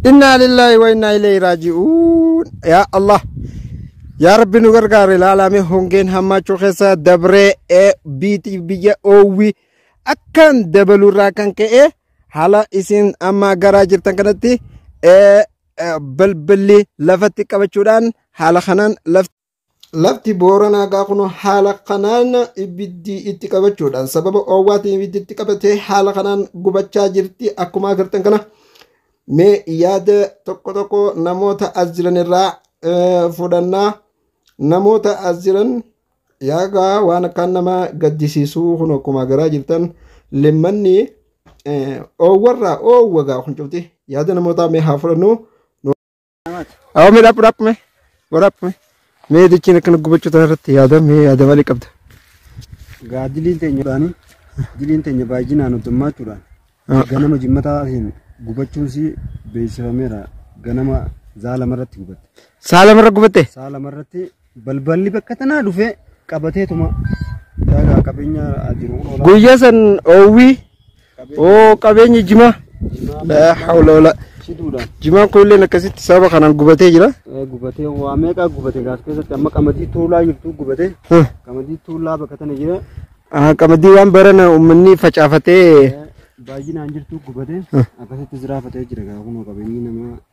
Innaa lillaahi wa innaa ilayhi raaji'uun. Yaa Allah. Yaa Rabbi nu gargaari ilaalame hongeen hammaachuu keessa dabree ee biiti biyya oowwi akkaan dabaluurraa kan ka'e haala isin amma garaa jirtan kanatti ee, ee, balballi lafatti qabachuudhaan haala kanaan lafti Lafti Booranaa gaa kun haala kanaan ibiddi itti qabachuudhaan sababa oowwaatiin ibiddi itti qabatee haala kanaan gubachaa jirti. Akkuma agartan kana mee yaada tokko tokko namoota as jiran irraa eh, fudhannaa. Namoota as jiran yaagaa waan akkaan nama gaddisiisuu kun akkuma agaraa jirtan limmanni eh, oowwarraa oowwagaa kun cufti yaada namootaa mee haa fudhannuu. Awa mee dhaphu dhaphu mee. Wa dhaphu mee. Mee dichiin akkana gubachuu tana irratti yaada mee yaada malee qabda. Gaa diliin teenya taanii diliin teenya baay'inaan hoddummachuudhaan Ah. ganama jimmataatiin gubachuun si beeksifameera ganama zaalamarratti gubatte. Saa lamarra gubatte. Saa lamarratti Balballi bakka tanaa dhufee qabateetuma daagaa qabeenya jiru. Guyyaa san oowwii oo qabeenya jimaa. Laa hawla wala. Shiduudhaan Jimaan kun illee akkasitti sababa kanaan gubatee jira. gubatee waa meeqaa gubate gaas keessatti amma qamadii tuulaa jirtu gubate Huh. qamadii tuulaa bakka tana jira Ah, Qamadii waan barana uummanni facaafatee baay'inaan jirtu gubate akkasitti jiraafatee jira gaa kunoo qabeenyi namaa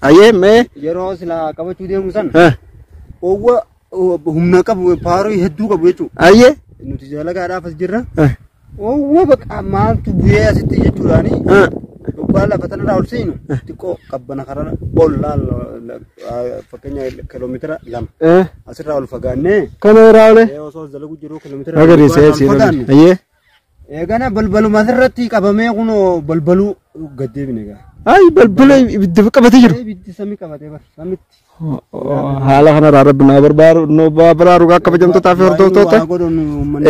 Hayyee mee yeroo silaa qabachuu deemu sana eh, owwa humna qabu paaroo hedduu qabu jechuudha. hayyee Nuti jalagaadhaaf as jirra. eh, Owwa baqa maaltu bu'ee asitti jechuudhaani eh, dhugaa lafa tanarraa ol seenu xiqqoo qabbana karaa ol laala fakkeenya kiiloomeetira lama eh, asirraa ol fagaannee kana irraa olee osoo as dalagu jiru kiiloomeetira magariisee lama siin fagaanne. hayyee. Eegana balbaluma asirratti qabamee kunoo balbaluu gad deebine egaa. Ayi balbala ibidda qabatee jiru. Ibiddi samii qabatee bara samitti. Haala kanarraa rabbi naa barbaaru nu baraaru gaa kabajamtootaa fi hordoftoota.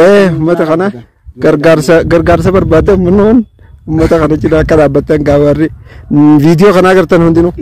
Eh uummata kana gargaarsa gargaarsa barbaadde uummanni uummata kana cinaa akka dhaabbattan gaa warri viidiyoo kana agartan hundinuu.